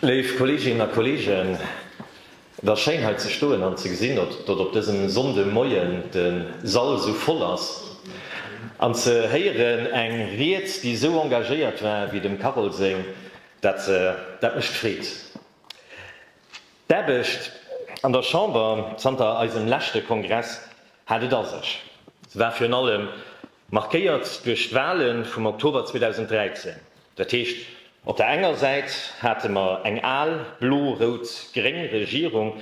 Léif Kolleeginnen a Kolleegen, et ass schéin hei ze stoen an ze gesinn, datt op dësem Sonndemoien de Sall esou voll ass, an ze héieren eng Ried, déi esou engagéiert war wéi dem Carole seng, dat mécht Freed. D'Aarbecht an der Chamber zanter eisem leschte Kongress hat et a sech. Se war virun allem Markéiert duerch d'Wahle vum Oktober 2013. Dat heescht, op der enger Säit hate mer eng al blo-rout-gréng Regierung,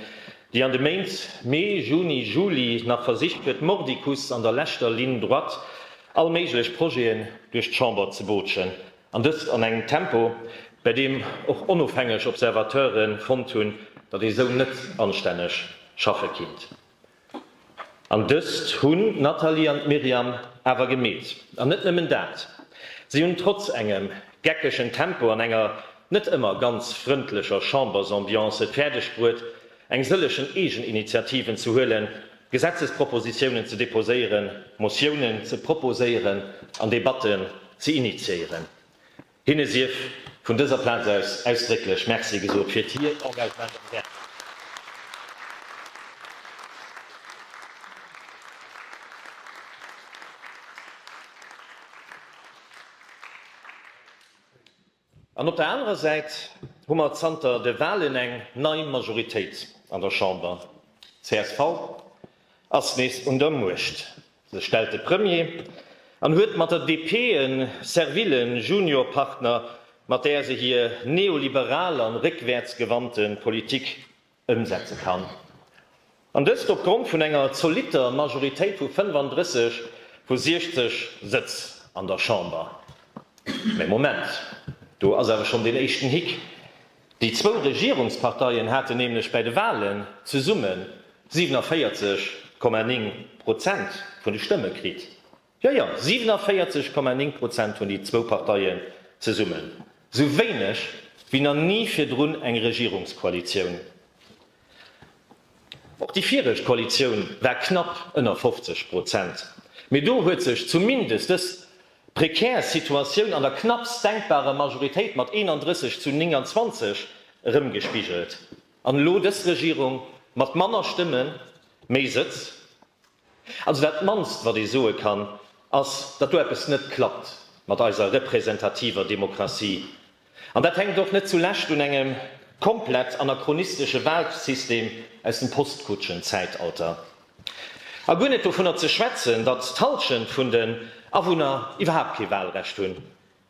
déi an de Méint Mee, Juni, Juli nach versicht huet, mordicus an der leschter Ligne droite all méiglech Projeten duerch d'Chamber ze bootschen, an dëst an engem Tempo, bäi deem och onofhängeg Observateure fonnt hunn, datt ee sou net anstänneg schaffe kinnt. An dëst hunn d'Nathalie an d'Myriam awer gemeet. An net nëmmen dat, si hunn trotz engem geckegen Tempo an enger net ëmmer ganz frëndlecher Chambersambiance et fäerdeg bruet, eng sëllegen Eegeninitiativen ze huelen, Gesetzespropositiounen ze deposéieren, Motiounen ze proposéieren an Debatten ze initiéieren. Hinne sief vun dëser Plaz aus ausdrécklech Merci gesot fir hiert Engagement am Gaart. An op der anerer Säit hu mer zanter de Wahlen eng nei Majoritéit an der Chamber. Csv ass nees un der Muecht. sech stellt de Premier an huet mat der DP e serville Juniorpartner, mat där se hir neoliberal an réckwäertsgewannte Politik ëmsetze kann. An dëst opgrond vun enger zolitter Majoritéit vu 35 vu 60 Sëtz an der Chamber. Mä Moment, do ass awer schonn deen éischten Hick. Déi zwou Regierungsparteien haten nämlech bäi de Walen zesumme 47,9 Prozent vun de Stëmme kritt. Jo, jo, 47,9 Prozent hunn déi zwou Parteien zesummen, esou wéineg wéi na ni virdrun eng Regierungskoalitioun. Och déi viregt Koalitioun war knapp ënner 50 Prozent, mee do huet sech zumindest dës prekär Situatioun an der knappst denkbarer Majoritéit mat 31 zu 29 erëmgespigelt. An elo dës Regierung mat manner Stëmmen, méi Sëtz? Also dat mannst wat ee soe kann, ass, datt do eppes net klappt mat eiser representativer Demokratie. An dat hänkt och net zu Lescht un engem komplett anachronistesche Wahlsystem aus dem Postkutschen-Zäitalter. A guer net dovunner ze schwätzen, datt d'Halschent vun den Awunner iwwerhaapt kee Wahlrecht hunn.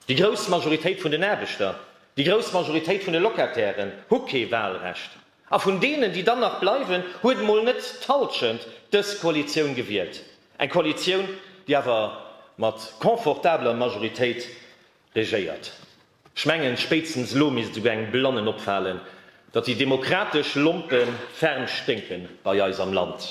Déi grouss Majoritéit vun den Aarbechter, déi grouss Majoritéit vun de Locatairen hu kee Wahlrecht. A vun deenen, déi dann nach bleiwen, huet emol net d'Halschent dës Koalitioun gewielt. Eng Koalitioun, déi awer mat confortabler Majoritéit regéiert. Ech mengen, spéitstens elo misst esouguer engem Blannen opfalen, Datt déi demokratesch Lompe ferm sténken bei eis am Land.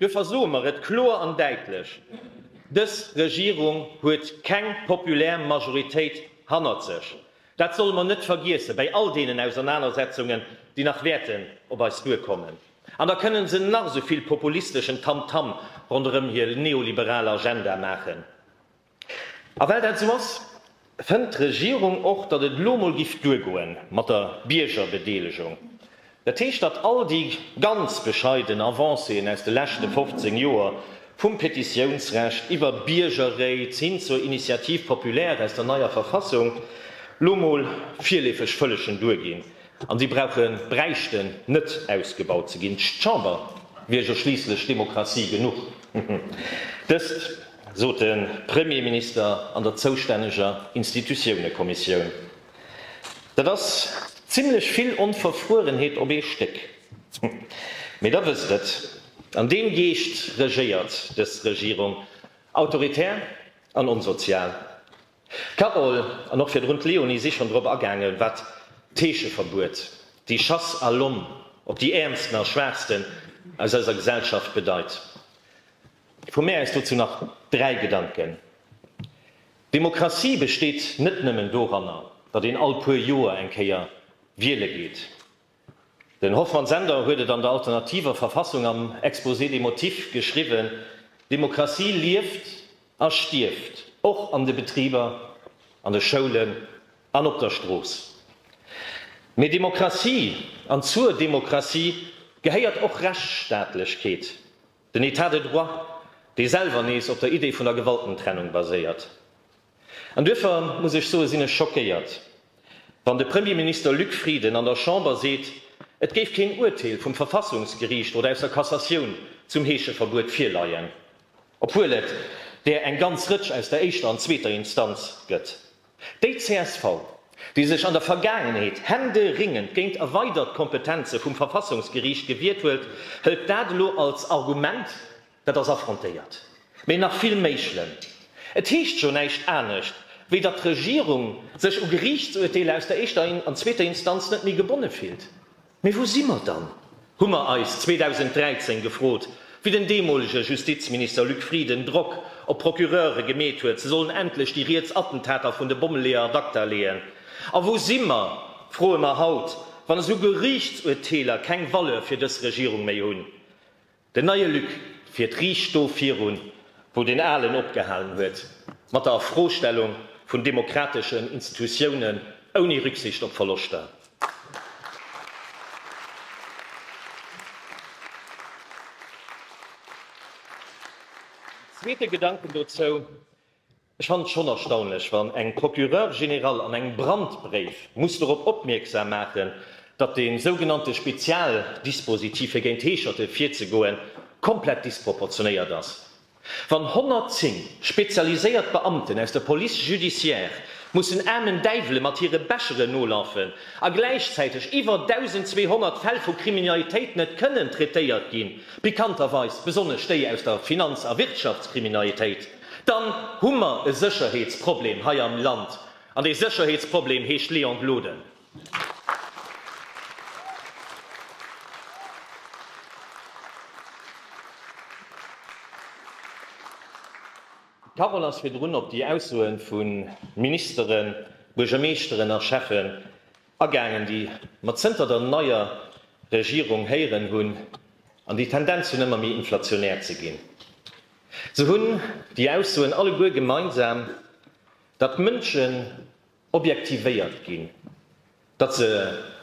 Duerfir soe mer et kloer an däitlech, Dës Regierung huet keng populär Majoritéit hannert sech. Dat solle mer net vergiessen, bäi all deenen Ausernanersetzungen, déi nach wäerten op eis duerkommen. An da kënnen se nach esou vill populisteschen Tamtam ronderëm hir neoliberal Agenda maachen. A well dat esou ass, fënnt d'Regierung och, datt et elo mol giff duergoe mat der Biergerbedeelegung. Dat heescht, datt all déi ganz bescheiden Avancéen aus de leschte 15 Joer, vum Petitiounsrecht iwwer Biergerréit hin zur Initiative populaire aus der neier Verfassung, lo mol virleefeg fëllechen duerginn. An déi brauchen, bräichten net ausgebaut ze ginn. D'Chamber wier jo schliisslech Demokratie genuch. Dëst sot de Premierminister an der zoustänneger Institutiounekommissioun. Dat ass zimlech vill Onverfruerenheet op ee Stéck. Mee da wësst et, an deem Geescht regéiert dës Regierung, autoritär an onsozial. D'Carole an och virdrun d'Léonie si schonn drop agaangen, wat d'Heescheverbuet, déi Chasse à l'homme op déi Äermsten a Schwaachsten aus eiser Gesellschaft bedeit. Vu mär aus dozou nach dräi Gedanken. Demokratie besteet net nëmmen doranner, datt een all puer Joer eng Kéier wiele geet. Den Hoffmann Sender huet et an der alternativer Verfassung am Exposé des motifs geschriwwen, Demokratie lieft a stierft och an de Betriber, an de Schoulen an op der Strooss. Mee Demokratie, an zur Demokratie gehéiert och Rechtsstaatlechkeet, den Etat de droit, dee selwer nees op der Idee vun der Gewaltentrennung baséiert. An duerfir muss ech soen, sinn ech schockéiert, wann de Premierminister Luc Frieden an der Chamber seet, et géif keen Urteel vum Verfassungsgeriicht oder aus der Cassatioun zum Heescheverbuet virleien, obwuel et där eng ganz Rëtsch aus der éischter an zweeter Instanz gëtt. Déi csv, déi sech an der Vergaangenheet händeringend géint erweidert Kompetenze vum Verfassungsgeriicht gewiert huet, hëlt dat elo als Argument, Dat ass affrontéiert, mee nach vill méi schlëmm. Et heescht jo näischt anescht, wéi datt d'Regierung sech u Geriichtsuerteeler aus der éischter an zweeter Instanz net méi gebonne fillt. Mee wou si mer dann? hu mer eis 2013 gefrot, wéi den deemolege Justizminister Luc Frieden Drock op d'Procureure gemeet huet, se sollen endlech déi riets Attentater vun de Bommeleeër ad acta leeën. A wou si mer, froe mer haut, wann esou Geriichtsuerteeler keng Valeur fir dës Regierung méi hunn? Den neie Luc fiert riicht do virun, wou deen alen opgehalen huet, mat der Erfrostellung vun demokrateschen Institutiounen, ouni Rücksicht op Verloschter. En zweete Gedanken dozou. Ech fannen et schonn erstaunlech, wann eng Procureure générale an engem Brandbréif muss dorop opmierksam maachen, datt de sougenannte Spezialdispositif fir géint Heescherte virzegoen komplett disproportionéiert ass. Wann 110 spezialiséiert Beamten aus der Police judiciaire mussen aarmen Däiwele mat hire Becheren nolafen a gläichzäiteg iwwer 1.200 Fäll vu Kriminalitéit net kënnen traitéiert ginn, pikanterweis besonnesch déi aus der Finanz a Wirtschaftskriminalitéit, Dann hu mer e Sécherheetsproblem hei am Land, an dee Sécherheetsproblem heescht Léon Gloden. D'Parole ass virdrun op déi Aussoe vu Ministeren, Buergermeeschteren a Schäffen agaangen, déi mer zënter der neier Regierung héieren hunn an déi d'Tendenz hunn, ëmmer méi inflationär ze ginn. Se hunn déi Aussoen alleguer gemeinsam, datt d'Mënschen objektivéiert ginn, datt se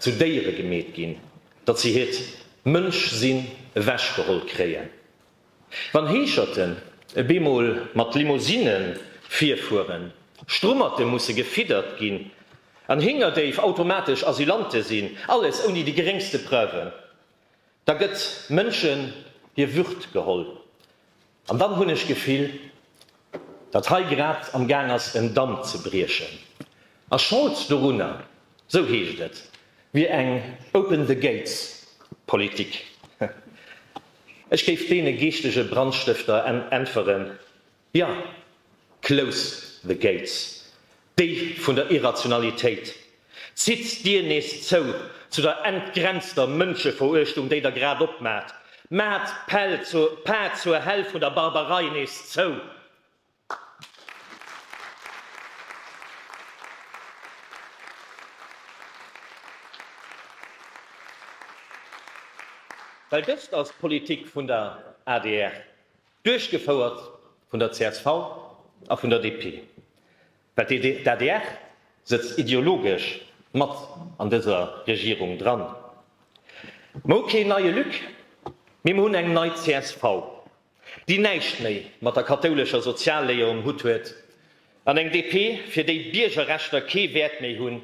zu Déiere gemeet ginn, datt se hiert Mënschsinn ewechgeholl kréien. Wann Heescherten e bemol mat Limousine virfueren, Strummerte musse gefiddert ginn an Héngerdéif automatesch Asylante sinn, alles ouni déi geréngste Preuven, Da gëtt Mënschen hir Würd geholl. An dann hunn ech d'Gefill, datt hei grad am Gaang ass en Damm ze briechen. A Schold dorunner, sou heescht et, wier eng Open the Gates Politik. Ech géif deene geeschtege Brandstëfter äntweren, Jo, close the gates, Déi vun der Irrationalitéit. Zitt d'Dier nees zou zu der entgrenzter Mënscheveruechtung, déi Der grad opmaacht. Maacht d'Päll zur Paart zur Häll vun der Barbarei nees zou. Well dëst ass d'Politik vun der adr. Duerchgefouert vun der csv a vun der DP, well d'ADR sëtzt ideologesch mat an dëser Regierung dran. Mer hu keen neie Luc, mee mer hunn eng nei csv, déi näischt méi mat der kathoulescher Sozialléier um Hutt huet, an eng DP, fir déi Biergerrechter kee Wäert méi hunn,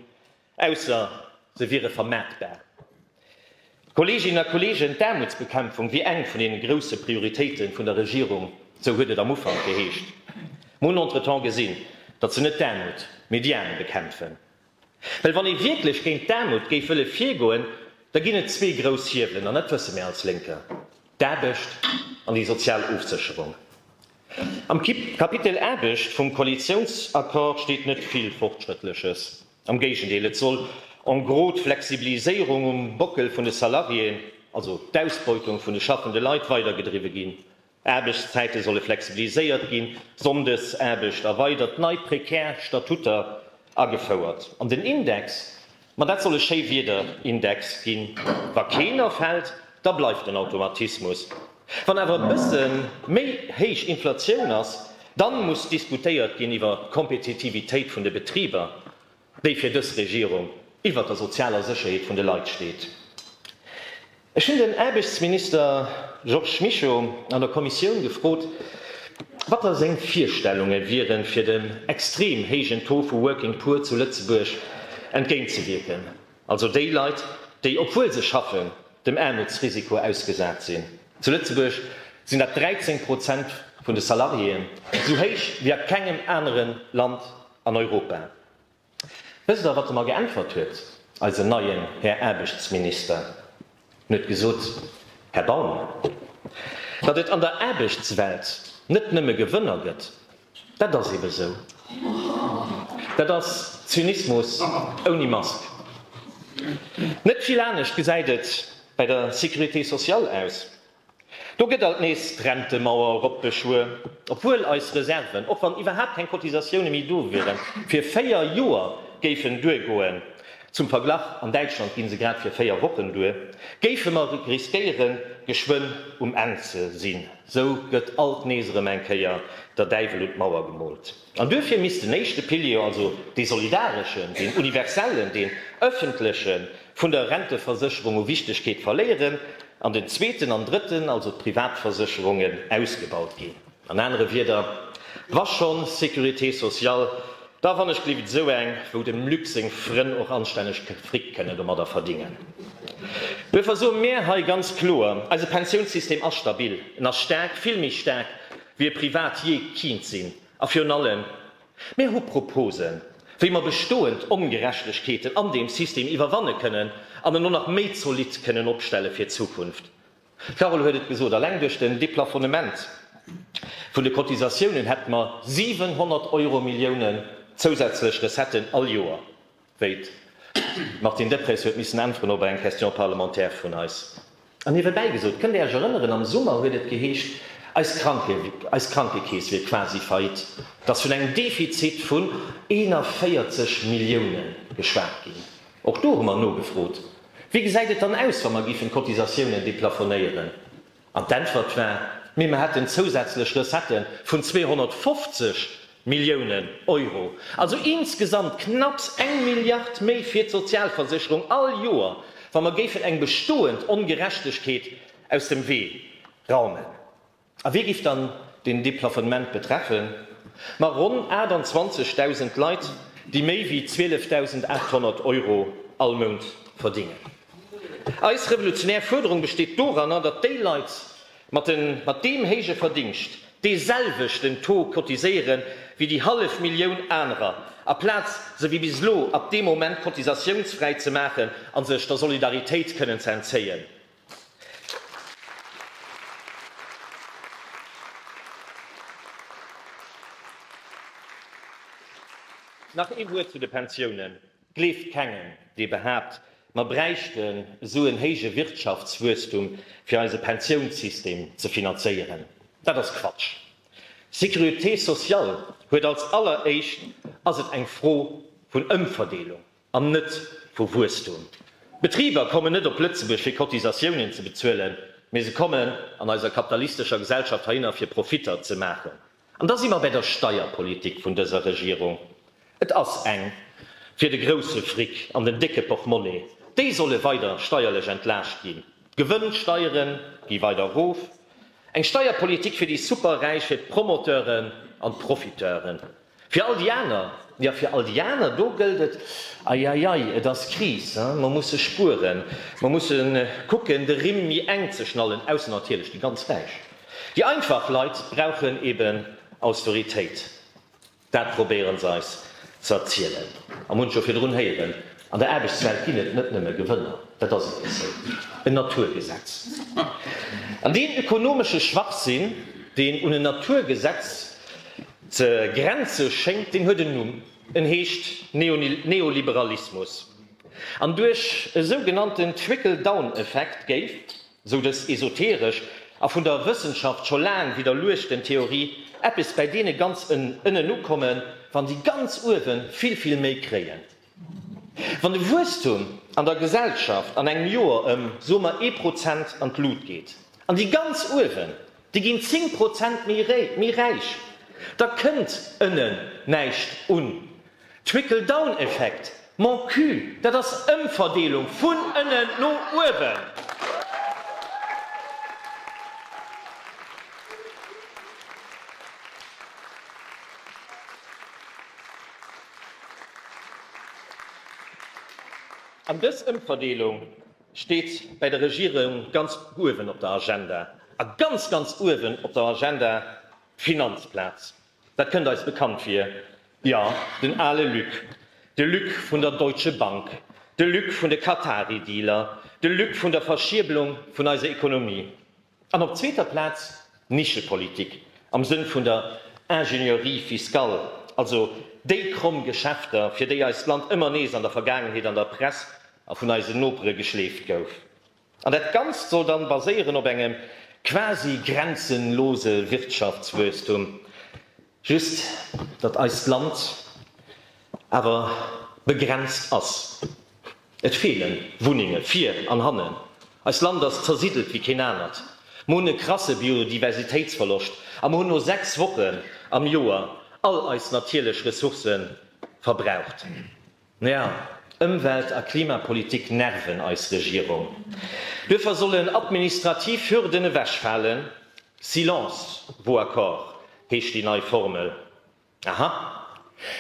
Ausser se wiere vermaartbar. Kolleeginnen a Kolleegen, d'Aarmutsbekämpfung wier eng vun deene grousse Prioritéite vun der Regierung, esou huet et am Ufank geheescht. Mer hunn entretemps gesinn, datt se net d'Aarmut, mee déi Aarm bekämpfen. Well wann ee wierklech géint d'Aarmut géif wëlle virgoen, da ginn et zwee grouss Hiewelen, an dat wësse mir als Lénker, d'Aarbecht an déi sozial Ofsécherung. Am Kapitel Aarbecht vum Koalitiounsaccord steet net vill Fortschrëttleches. Am Géigendeel, et soll en gros d'Flexibiliséierung um Bockel vun de Salariéen, also d'Ausbeutung vun de schaffende Leit, weider gedriwwe ginn. Aarbechtszäite solle flexibiliséiert ginn, Sonndesaarbecht erweidert, nei prekär Statutter agefouert an den Index Ma dat soll e Schéiwieder-Index ginn? Wa keen erfält, da bleift en Automatismus. Wann awer e bësse méi héich Inflatioun ass, dann muss diskutéiert ginn iwwer d'Kompetitivitéit vun de Betriber, déi fir dës Regierung iwwer der sozialer Sécherheet vun de Leit steet. Ech hunn den Aarbechtsminister Georges Mischo an der Kommissioun gefrot, wat da seng Virstellunge wieren, fir dem extrem héijen Taux vu Working Poor zu Lëtzebuerg entgéintzewierken, also déi Leit, déi, obwuel se schaffen, dem Aarmutsrisiko ausgesat sinn. Zu Lëtzebuerg sinn dat 13 Prozent vun de Salariéen, esou héich wéi a kengem anere Land an Europa. Wësst Der, wat e mer geäntwert huet, eisen neien Här Aarbechtsminister? En huet gesot, Här Baum, datt et an der Aarbechtswelt net nëmme Gewënner gëtt, dat ass eebe sou. Dat ass Zynismus ouni Mask. Net vill anescht gesäit et bei der Sécurité sociale aus. Do gëtt alt nees d'Rentemauer eropgeschwuer, obwuel eis Reserven, och wann iwwerhaapt keng Cotisatioune méi do wieren, fir véier Joer géifen duergoen, zum Verglach, an Däitschland gi se grad fir véier Wochen duer, géife mer riskéiere geschwënn um Enn ze sinn. Sou gëtt alt nees erëm eng Kéier der Däiwel un d'Mauer gemoolt. An duerfir misst den éischte Pilier, also dee solidareschen, deen universellen, deen öffentlechen, vun der Renteversécherung u Wichtegkeet verléieren an den zweeten an drëtten, also d'Privatversécherungen, ausgebaut ginn. An anere Wieder, wa schonn Sécurité sociale, da wann ech gelift esou eng, wou dem Luc seng Frënn och anstänneg Fric kënnen domadder verdingen. Duerfir soe mär hei ganz kloer, eise Pensiounssystem ass stabil, en ass staark, vill méi staark, Wier privat jee kint sinn. A virun allem, mir hu Proposen, wéi mer bestoend Ongerechtegkeeten an deem System iwwerwanne kënnen an en och nach méi zolidd kënnen opstelle fir d'Zukunft. D'Carole huet et gesot, alleng duerch den Deplafonnement vun de Cotisatiounen hätte mer 700 Euro Milliounen zousätzlech Recetten all Joer. wéi d'Martine Deprez huet missen äntweren op eng Question parlementaire vun eis. An niewebäi gesot, kënnt Dir Iech erënneren, am Summer huet et geheescht, eis Krankekeess wier quasi faillite, et ass vun engem Defizit vun 41 Milliounen geschwat ginn. Och do hu mer nogefrot, Wéi gesäit et dann aus, wa mer géifen d'Cotisatiounen deplafonéieren? An d'Äntwert war, Mee mer hätten zousätzlech Recettë vun 250 Milliounen Euro. Also insgesamt knapps eng Milliard méi fir d'Sozialversicherung all Joer, wa mer géifen eng bestoend Ongerechtegkeet aus dem Wee raumen. A wie géif dann deen Deplafonnement betreffen? Ma ronn 28.000 Leit, déi méi wéi 12.800 Euro all Mount verdingen. Eis revolutionär Fuerderung besteet doranner, datt déi Leit mat deem héije Verdingscht dee selwechten Taux cotiséiere wéi déi hallef Millioun anerer, aplaz se wéi bis elo ab deem Moment cotisatiounsfräi ze maachen a sech der Solidaritéit kënnen ze entzéien. Nach ee Wuert zu de Pensiounen. Gleeft kengem, dee behaapt, mer bräichten esou en héije Wirtschaftswuesstum, fir eise Pensiounssystem ze finanzéieren. Dat ass Quatsch. Sécurité sociale huet als alleréischt, ass et eng Fro vun Ëmverdeelung an net vu Wuesstum. D'Betriber kommen net op Lëtzebuerg, fir Cotisatiounen ze bezuelen, mee se kommen an eiser kapitalistescher Gesellschaft heihinner, fir Profitter ze maachen. An da si mer bäi der Steierpolitik vun dëser Regierung. Et ass eng fir de grousse Fric an den décke Portmonnaie. Déi solle weider steierlech entlaascht ginn. D'Gewënnsteiere gi weider erof. Eng Steierpolitik fir déi Superräich, fir d'Promoteuren an d'Profiteuren. Fir all déi aner, jo, fir all déi aner, do gëllt et, Eieiei, et ass Kris, mer musse spueren, mer musse kucken, de Rimm méi enk ze schnallen, ausser natierlech déi ganz Räich. Déi einfach Leit brauchen eben Austeritéit. Dat probéiere se eis ze erzielen. A munch jo virdrun héieren, an der Aarbechtswelt ginn et net nëmme Gewënner. Dat ass eben esou en Naturgesetz. An deen ökonomesche Schwachsinn, deen un en Naturgesetz ze grenze schéngt, deen huet en Numm, en heescht Neoliberalismus. An duerch e sougenannten Trickle-down-Effekt géif. Esou dës esoteresch a vun der Wëssenschaft scho laang widderluechten Theorie, eppes bäi deene ganz ënnen ukommen, wann déi ganz uewe vill, vill méi kréien. Wann de Wuesstum an der Gesellschaft an engem Joer ëm, soe mer, ee Prozent an d'Lut geet, an déi ganz uewen, déi ginn zéng Prozent méi räich, da kënnt ënnen näischt un. Trickle down Effekt, Mon cul, dat ass Ëmverdeelung vun ënnen no uewen. An dës Ëmverdeelung steet bäi der Regierung ganz uewen op der Agenda, a ganz, ganz uewen op der Agenda d'Finanzplaz. Dat kënnt eis bekannt vir. Jo, den ale Luc. De Luc vun der Deutsche Bank. De Luc vun de Qatari-Dealer. De Luc vun der Verschierbelung vun eiser Ekonomie. An op zweeter Plaz d'Nischepolitik am Sënn vun der Ingénierie fiscale, also déi kromm Geschäfter, fir déi eist Land ëmmer nees an der Vergaangenheet an der Press a vun eisen Nopere geschleeft gouf. An dat Ganzt soll dann baséieren op engem quasi grenzenlose Wirtschaftswuesstum, just datt eist Land awer begrenzt ass. Et feele Wunnenge vir an hannen, eist Land ass zersiddelt wéi keen anert, mer hunn e krasse Biodiversitéitsverloscht a mer hunn no 6 Wochen am Joer all eis natierlech Ressourcë verbraucht. Naja, Ëmwelt a Klimapolitik nerven eis Regierung. Duerfir sollen administrativ Hürden ewechfalen, Silence vaut accord heescht déi nei Formel. Aha,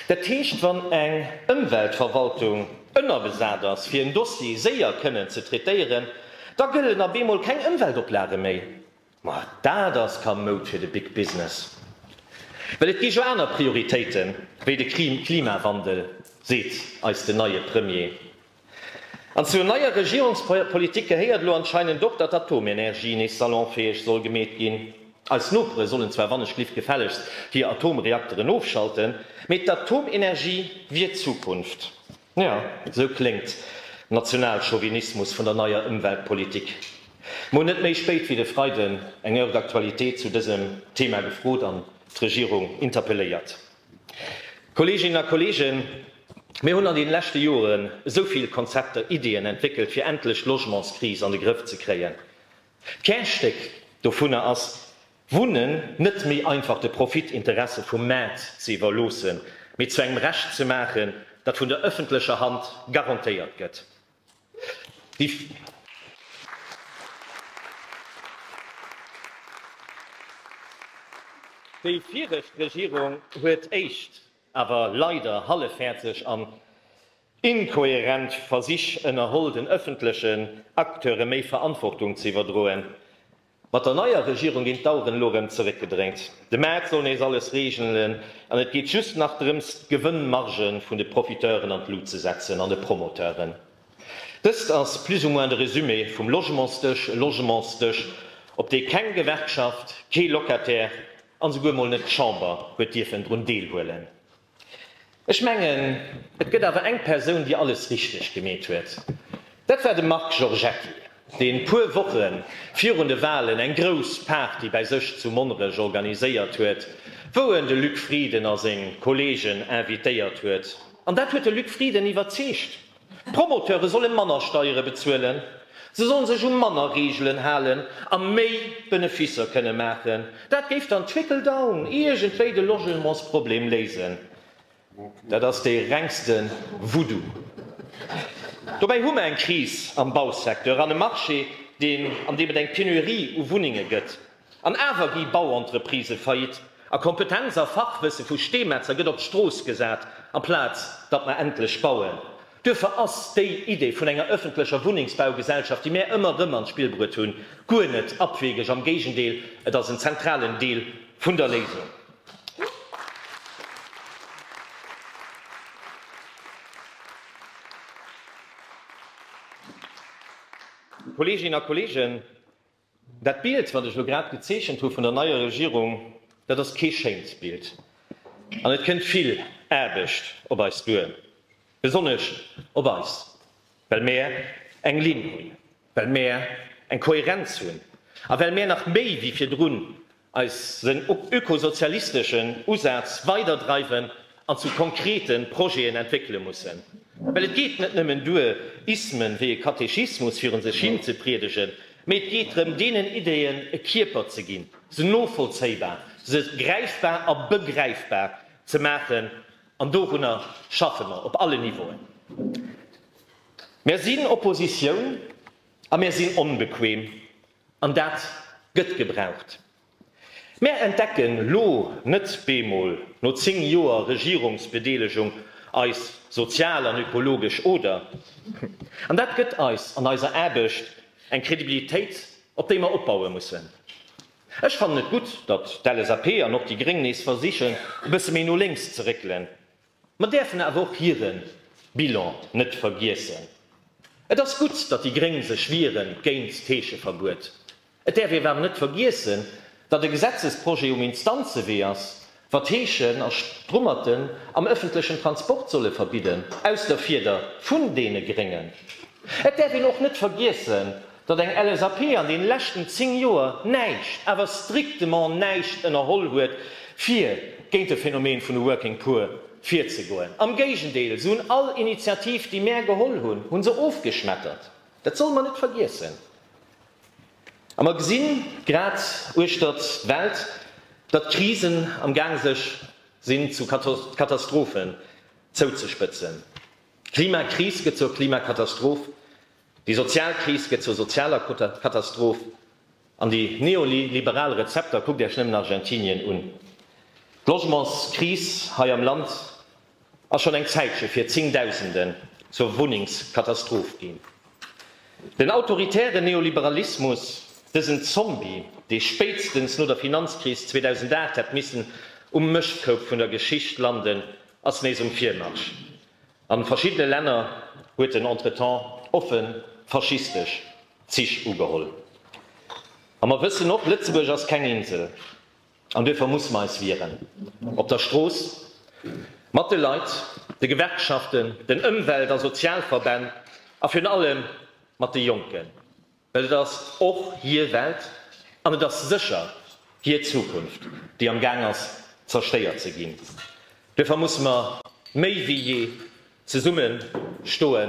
dat heescht, wann eng Ëmweltverwaltung ënnerbesat ass, fir en Dossier séier kënnen ze traitéieren, da gëllen op eemol keng Ëmweltoplage méi. Ma dat ass kamoud fir de Big Business, well et gi jo aner Prioritéite wéi de Klimawandel, seet eis den neie Premier. An zur neier Regierungspolitik gehéiert elo anscheinend och, datt d'Atomenergie nees salonfäeg soll gemeet ginn. Eis Nopere sollen zwar wannechlift gefällegst hir Atomreakteren ofschalten, mee d'Atomenergie wier d'Zukunft. Jo, esou kléngt Nationalchauvinismus vun der neier Ëmweltpolitik. Mer hunn net méi spéit wéi de Freiden eng Heure d'actualité zu dësem Thema gefrot an d'Regierung interpelléiert. Kolleeginnen a Kolleegen, mir hunn an deene leschte Joren esou vill Konzepter, Ideeën entwéckelt, fir endlech d'Logementskris an de Grëff ze kréien. D'Kärstéck dovunner ass, Wunnen net méi einfach de Profitinteresse vum Maart ze iwwerloossen, mee zu engem Recht ze maachen, dat vun der ëffentlecher Hand garantéiert gëtt. Déi. Déi viregt Regierung huet éischt, awer leider halleffäerteg an inkohärent Versich ënnerholl, den ëffentlechen Acteure méi Verantwortung ze iwwerdroen. Mat der neier Regierung ginn d'Aueren elo rem zeréckgedréint. De Maart soll nees alles regelen an et geet just nach drëms d'Gewënnmargen vun de Profiteuren an d'Lut ze setzen an de Promoteuren. Dëst ass plus ou moins de Résumé vum Logementsdësch, e Logementsdësch op dee keng Gewerkschaft, kee Locataire an esouguer mol net d'Chamber huet dierfen drun deelhuelen. Ech mengen, et gëtt awer eng Persoun, déi alles richteg gemeet huet. Dat war de Marc Giorgetti, dee puer Woche virun de Walen eng grouss Party bäi sech zu Monnerech organiséiert huet, wou en de Luc Frieden a seng Kolleegen invitéiert huet. An dat huet de Luc Frieden iwwerzeegt. D'Promoteure solle manner Steiere bezuelen, se solle sech u manner Reegelen halen a méi Benefisser kënne maachen. Dat géif dann trickle down iergendwéi de Logementsproblem léisen. Dat ass dee rengste Voodoo. Dobäi hu mer eng Kris am Bausecteur an e Marché, deen, an deem et eng Penurie u Wunnenge gëtt. An awer gi Bauentreprisë faillite a Kompetenz a Fachwësse vu Steemetzer gëtt op d'Strooss gesat, amplaz datt mer endlech bauen. Duerfir ass déi Idee vun enger ëffentlecher Wunnengsbaugesellschaft, déi mär ëmmer erëm an d'Spill bruet hunn, guer net abwegeg, am Géigendeel, et ass en zentralen Deel vun der Léisung. Kolleeginnen a Kolleegen, Dat Bild, wat ech elo grad gezeechent hu vun der neier Regierung, dat ass kee schéint Bild an et kënnt vill Aarbecht op eis duer, besonnesch op eis, well mär eng Linn hunn, well mär eng Kohärenz hunn a well mär nach méi wéi virdrun eis seng ökosozialisteschen Usäz weider dreiwen an zu konkrete Projeten entwéckele mussen. Well et geet net nëmmen duer, Ismen wéi e Katechismus virun sech hin ze priedegen, mee et geet drëm, deenen Ideen e Kierper ze ginn, se novollzéibar, se gräifbar a begräifbar ze maachen. An dorunner schaffe mer op alle Niveauen. Mer sinn Oppositioun a mer sinn onbequem, An dat gëtt gebraucht. Mär entdecken lo net bemol no 10 Joer Regierungsbedeelegung eis sozial an ökologesch Oder. An dat gëtt eis an eiser Aarbecht eng Kredibilitéit, op déi mer opbaue mussen. Ech fannen et gutt, datt d'LSAP an och déi Gréng nees versichen, e bësse méi no lénks ze réckelen. Mer däerfen awer och hire Bilan net vergiessen. Et ass gutt, datt déi Gréng sech wieren géint d'Heescheverbuet. Et däerf ee awer net vergiessen, datt e Gesetzesprojet um Instanzewee ass, wa d'Heeschen a Strummerten am ëffentlechen Transport solle verbidden, aus der Fieder vun deene Gréngen. Et däerf een och net vergiessen, Datt eng LSAP an den leschten 10 Joer näischt, awer strictement näischt ënnerholl huet fir géint de Phänomen vun de Working Poor virzegoen. Am Géigendeel, se hunn all Initiativ déi mär geholl hunn, hunn se ofgeschmettert. Dat solle mer net vergiessen. A mer gesinn grad uechtert d'Welt, datt Krisen am gaang sech sinn zu Katastrophen zouzespëtzen. D'Klimakris gëtt zur Klimakatastroph. Déi sozial Kris gëtt zur sozialer Katastroph an déi neoliberal Rezepter, kuckt Iech nëmmen Argentinien un. D'Logementskris hei am Land ass schonn eng Zäitche fir Zéngdausenden zur Wunnengskatastroph ginn. Den autoritären Neoliberalismus, dësen Zombie, dee spéitstens no der Finanzkris 2008 hätt missen um Mëschtkoup vun der Geschicht landen, ass nees um Virmarsch. An verschiddene Länner huet en entretemps offen faschistesch Zich ugeholl. An mer wëssen och, Lëtzebuerg ass keng Insel an duerfir musse mer eis wieren, op der Strooss, mat de Leit, de Gewerkschaften, den Ëmwelt a Sozialverbänn a virun allem mat de Jonken. Et ass och hir Welt an et ass sécher hir Zukunft, déi am Gaang ass zerstéiert ze ginn. Duerfir musse mer méi wéi jee zesumme stoe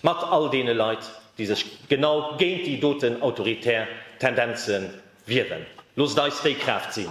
mat all deene Leit, déi sech genau géint déi doten autoritär Tendenze wieren. Loosst eis déi Kraaft sinn!